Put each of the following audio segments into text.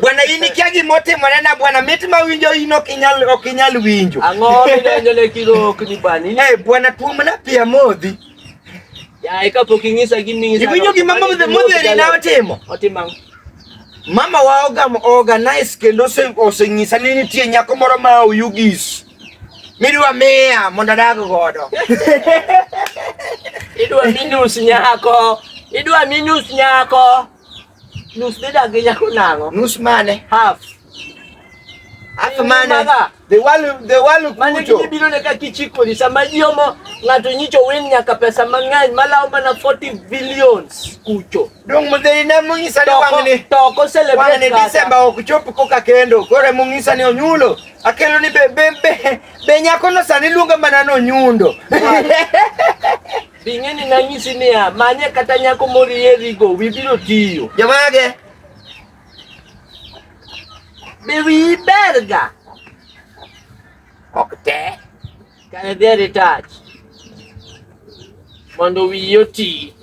Bwana in ikia gima otimore na bwana mit ma winjo in ok inyal ok inyal winjo. Ang'o midonjo ne kilok ni bwana in? Eh bwana tuomna pi amodhi. Yaye kapok ing'isa giming'isa. Iwinjo gima modhe modheri na otimo. Otimo ang'o? Mama wa ogam organize kendo oseng'isa ni nitie nyako moro ma oyugis. Midwa miya mondo adag godo. Idwa minus nyako. Idwa minus nyako. Nus de dagi nyako nango. Nus mane? Half. Half mane? The world the world kucho. Mane kidi biro ne ka kichiko ni sama yomo ngato nyicho wen nyaka pesa mang'eny malawo mana 40 billions kucho. Dong mudheri ne mung'isa ni wang'ni. Toko celebrate. Wang'ni December ok chop koka kendo. Kore mung'isa ni onyulo. Akelo ni be be be, be nyako no sani luonga mana no nyundo. Bing'eni nanyisi niya, manye kata nyako morierigo, wi biro tiyo. Jomage? Be wiyi berga? Ok te. Kare dher itach mondo wiyi oti.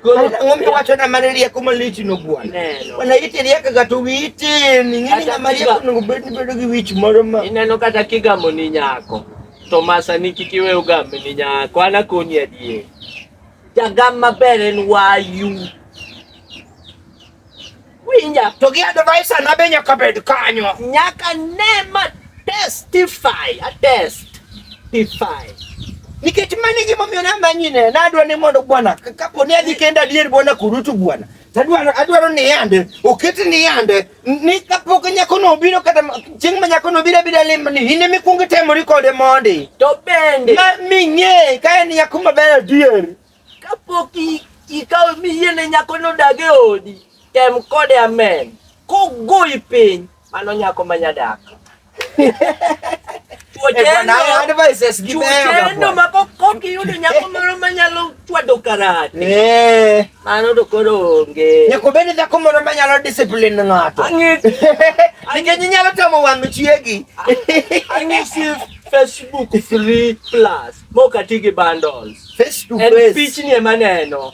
Koro ang'o miwacho na mane rieko malich no bwana? Neno. Bwana iti riekaga to wiyi tin. Ing'e ni Kata ng'ama rieko kiga- onego bed ni bedo gi wich moro ma Ineno kata kigamoni nyako. Tomasa ni kik iwe ogambe ni nyako, an akoni adier. Jagam maber en wayu. Winja, To gi advisor na be nyaka bed kanyo. nyaka ne ma testify, a testify. Nikech mano e gimomiyo namanyine, nadwa ni mondo bwana, ka- kapo ni adhi kenda adier bwana kurutu bwana. Tadwaro adwaro ni yande oket ni yande ni kapok nyako no obiro kata chieng' ma nyako no obiro abira limba ni in ema ikwongo itemori kode mondi. To bende Ma ming'e ka en nyako maber adier. kapok i- ikawo miyiene nyako nodag e odi, tem kode amen. Kogoyi piny, Mano nyako ma nyadak. Chuotendo ma kok iyudo nyako moro ma nyalo chwado karate. Eh. Mano to koro onge. Nyako bende dhako moro ma nyalo discipline ng'ato. Nikech inyalo tamo wang' chiegi. Ang'isi Facebook free plus mok ati gi bundles. Face to face. En pichni ema neno.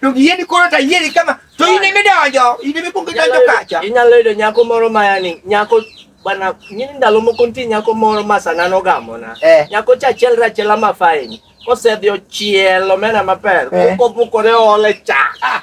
to giyeni koro to ayieri kama to in emi donjo in emi kuongo idonjo kacha inyalo yudo nyako moro mayani nyako bana ng'ini ndalo moko nitie nyako moro ma sana nogamona eh. nyako cha achiel rachiela mafaini kosedhi ochielo mena maber eh. kokobukore ole cha ah.